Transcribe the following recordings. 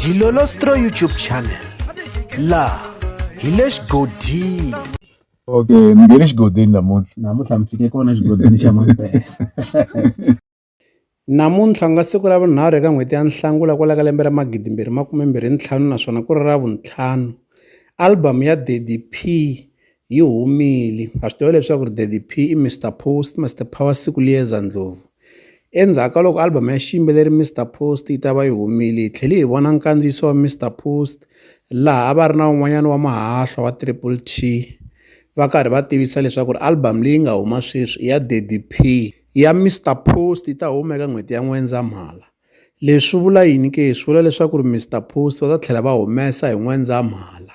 Dilolostro YouTube channel la hi le xigodini okay mi nge le xigodini namuntlha namuntlha mi fike kona xigodini xa mampela namuntlha nga siku ra vunharhu eka n'hweti ya nhlangula kwala ka lembe ra magidi mbirhi makume mbirhi ntlhanu naswona ku ri ra vuntlhanu album ya daddy p Yi humile. Ha swi tiva leswaku ri Daddy P i Mister Post, Mister Power siku liyeza ndlopfu. Endzhaku ka loko album ya xiyimbeleri Mister Post yi ta va yi humile, hi tlhele hi vona nkandziyiso wa Mister Post laha a va ri na un'wanyana wa mahahlwa wa Triple T va karhi va tivisa leswaku ri album leyi nga huma sweswi i ya Daddy P. Ya Mister Post yi ta huma eka n'hweti ya N'wendzamhala. Leswi swi vula yini ke? Swi vula leswaku ri Mister Post va ta tlhela va humesa hi N'wendzamhala.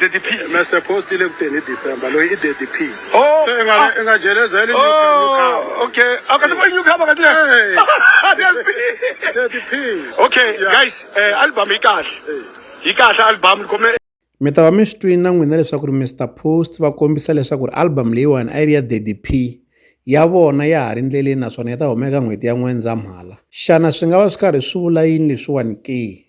Daddy P. Master Post ile kuteni hi December loyi i Daddy P. Oh, Se i nga ah. i nga jeleza ile Oh, okay. Akati boy new cover kati. Hey. Daddy P. Okay, Yeah. guys, eh, album yi kahle. Yi kahle album khome mi ta va mi swi twini na n'wina leswaku ri mr post va kombisa leswaku ri album leyiwani a yi ri ya daddy p ya vona ya ha ri ndleleni naswona yi ta humeka n'hweti ya n'wendzamhala xana swi nga va swi karhi swi vula yini leswiwani ke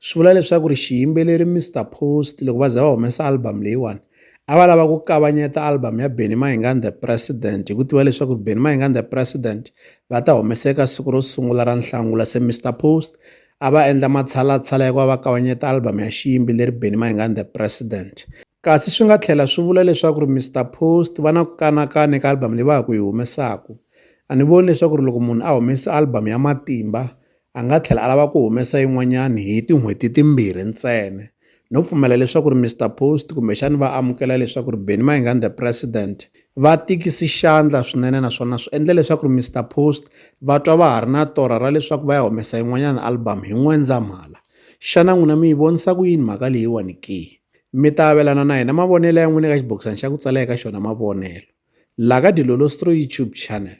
swi vula leswaku ri xiyimbeleri Mister Post loko va za va humesa album leyiwani a va lava ku kavanyeta album ya Benny Mayengani the President hi ku tiva leswaku Benny Mayengani the President va ta humeseka siku ro sungula ra Nhlangula se Mister Post a va endla matshalatshala ya ku va va kavanyeta album ya xiyimbeleri Benny Mayengani the President kasi swi nga tlhela swi vula leswaku ri Mister Post va na ku kanakana eka album leyi va ya ku yi humesaku a ni voni leswaku ri loko munhu a humesa album ya matimba A nga tlhela a lava ku humesa yin'wanyana hi tin'hweti timbirhi ntsena. No pfumela leswaku ri Mister Post kumbexana va amukela leswaku ri Benny Mayengani the President va tikisi xandla swinene naswona swi endle leswaku ri Mister Post va twa va ha ri na torha ra leswaku va ya humesa yin'wanyana album hi N'wendzamhala. Xana n'wina mi yi vonisa ku yini mhaka leyiwani ke? Mi ta avelana na hina mavonelo ya n'wina eka xibokisana xa ku tsala eka xona mavonelo laha ka Dilolo Stroyi YouTube Channel.